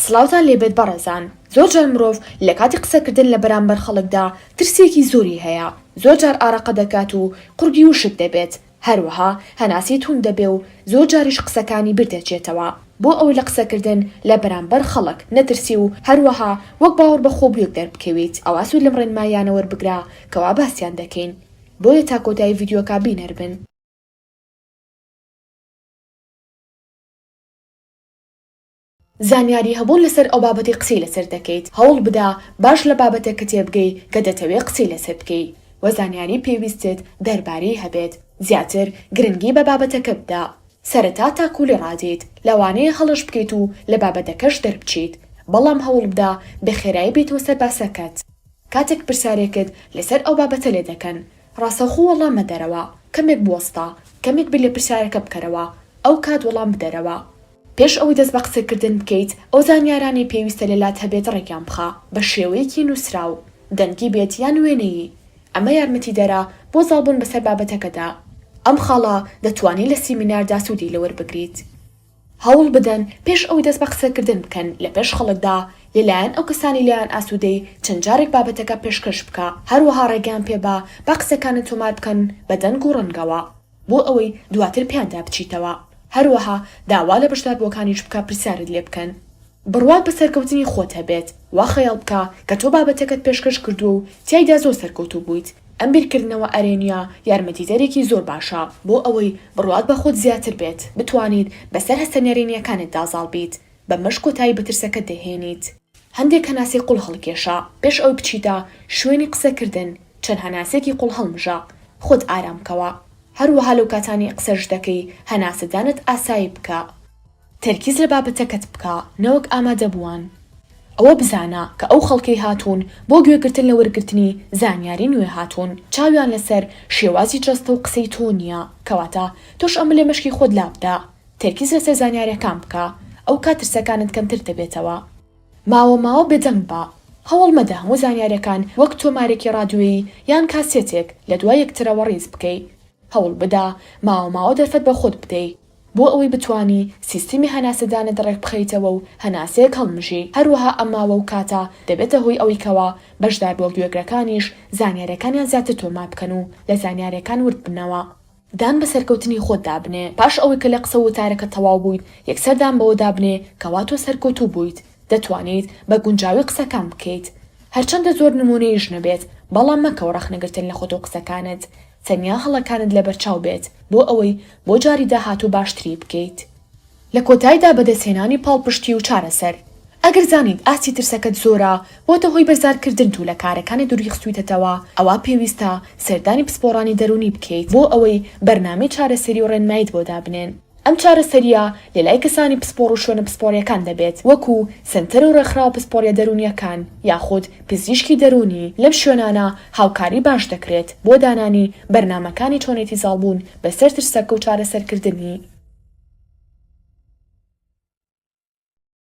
سڵاوتان لێبێت بەڕێزان، زۆرجار مرۆڤ لەکاتی قسەکردن لەبەرامبەر خەڵکدا ترسێکی زۆری هەیە، زۆرجار ئارەقە دەکات و قوڕگی وشک دەبێت، هەروەها هەناسەی توند دەبێ و زۆرجاریش قسەکانی بیردەچێتەوە، بۆ ئەوەی لە قسەکردن لەبەرامبەر خەڵک نەترسی و هەروەها وەک باوەڕبەخۆبوویەک دەربکەویت، ئەوا سوود لەم ڕێنماییانە وەربگرە کەوا باسیان دەکەین، بۆیە تا کۆتایی ڤیدیۆکە بینەربن. زانیاری هەبوون لەسەر ئەو بابەتەی قسەی لەسەر دەکەیت هەوڵ بدە باش لە بابەتەکە تێبگەی کە دەتەوێ قسەی لەسەر بکەی وە زانیاری پێویستت دەربارەی هەبێت زیاتر گرنگی بە بابەتەکە بدە سەرەتا تاکو لێ ڕادێیت لەوانەیە هەڵەش بکەیت و لە بابەتەکەش دەربچیت بەڵام هەوڵ بدە بە خێرایی بێیتەوە سەر باسەکەت کاتێک پرسیارێکت لەسەر ئەو بابەتە لێ دەکەن ڕاستەوخۆ وەڵام مەدەرەوە کەمێک بوەستە کەمێک بیر لە پرسیارەکە بکەرەوە ئەو کات وەڵام بدەرەوە. پێش ئەوەی دەست بە قسەکردن بکەیت، ئەو زانیارانەی پێویستە لەلات هەبێت ڕێکیان بخە، بە شێوەیەکی نووسراو، دەنگی بێت یان وێنەیی، ئەمە یارمەتیدەرە بۆ زاڵبوون بەسەر بابەتەکەدا. ئەم خاڵە دەتوانیت لە سیمیناردا سوودی لەوەربگریت. هەوڵ بدەن پێش ئەوەی دەست بە قسەکردن بکەن لە پێش خەڵکدا، لەلایەن ئەو کەسانەی لێیان ئاسوودەی، چەند جارێک بابەتەکە پێشکەش بکە، هەروەها ڕێگەیان پێبە با قسەکانت تۆمار بکەن بە دەنگ و ڕەنگەوە. بۆ ئەوەی دواتر پێیاندا بچیتەوە. هەروەها داوا لە بەشداربووەکانیش بکە پرسیارت لێ بکەن. بڕوات بە سەرکەوتنی خۆت هەبێت. وا خەیاڵ بکە کە تۆ بابەتەکەت پێشکەش کردووە و تیایدا زۆر سەرکەوتوو بوویت. ئەم بیرکردنەوە ئەرێنییە یارمەتیدەرێکی زۆر باشە بۆ ئەوەی بڕوات بە خۆت زیاتر بێت، بتوانیت بەسەر هەستە نەرێنییەکانتدا زاڵ بیت، بەمەش کۆتایی بە ترسەکەت دەهێنیت. هەندێک هەناسەی قوڵ هەڵکێشە، پێش ئەوەی بچیتە شوێنی قسەکردن چەند هەناسەیەکی قوڵ هەڵمژە، خۆت ئارام بکەوە، هەروەها لەو کاتانەی قسەش دەکەی هەناسەدانت ئاسایی بکە، تەرکیز لە بابەتەکەت بکە نەوەک ئامادەبووان، ئەوە بزانە کە ئەو خەڵکەی هاتوون بۆ گوێگرتن لە وەرگرتنی زانیاری نوێ هاتوون چاویان لەسەر شێوازی جەستە و قسەی تۆ نییە، کەواتە تۆش ئەمە لە مێشکی خۆت لابدە، تەرکیز لەسەر زانیارەکان بکە ئەو کات ترسەکانت کەمتر دەبێتەوە. ماوە ماوە بێدەنگ بە، هەوڵ مەدە هەموو زانیارەکان وەک تۆمارێکی ڕادیۆیی یان کاسێتێک لە دوای یەکترەوە ڕیز بکەی. هەوڵ بدە ماوە ماوە دەرفەت بە خۆت بدەی بۆ ئەوەی بتوانی سیستمی هەناسەدانت ڕێکبخەیتەوە و هەناسەیەک هەڵمژی. هەروەها ئەم ماوە و کاتە دەبێتە هۆی ئەوەی کەوا بەشدار بڵگوێگرەکانیش زانیارەکانیان زیاتر تۆمار بکەن و لە زانیارەکان ورد بنەوە. دان بە سەرکەوتنی خۆتدا بنێ، پاش ئەوەی کە لە قسە و وتارەکەت تەواو بوویت، یەکسەر دان بەوەدا بنێ کەوا تۆ سەرکەوتوو بوویت، دەتوانیت بە گونجاوی قسەکان بکەیت. هەرچەندە زۆر نموونەیش نەبێت، بەڵام مەکەوە ڕەخنەگرتن لە خۆت و قسەکانت، تەنیا هەڵەکانت لەبەرچاو بێت بۆ ئەوەی بۆ جاری داهاتوو باشتری بکەیت. لە کۆتایدا بەدەستهێنانی پاڵپشتی و چارەسەر. ئەگەر زانیت ئاستی ترسەکەت زۆرە، بۆتە هۆی بەرزارکردنت و لە کارەکانت دوریخستویتەتەوە، ئەوا پێویستە سەردانی پسپۆڕانی دەروونی بکەیت بۆ ئەوەی بەرنامەی چارەسەری و ڕێنماییت بۆ دابنێن. ئەم چارەسەرییە لەلای کەسانی پسپۆڕ و شوێنە پسپۆڕییەکان دەبێت، وەکو سەنتەر و ڕێکخراوە پسپۆڕییە دەروونییەکان یاخود پزیشکی دەروونی، لەم شوێنانە هاوکاری باش دەکرێت بۆ دانانی بەرنامەکانی چۆنێتی زاڵبوون بەسەر ترسەکە و چارەسەرکردنی.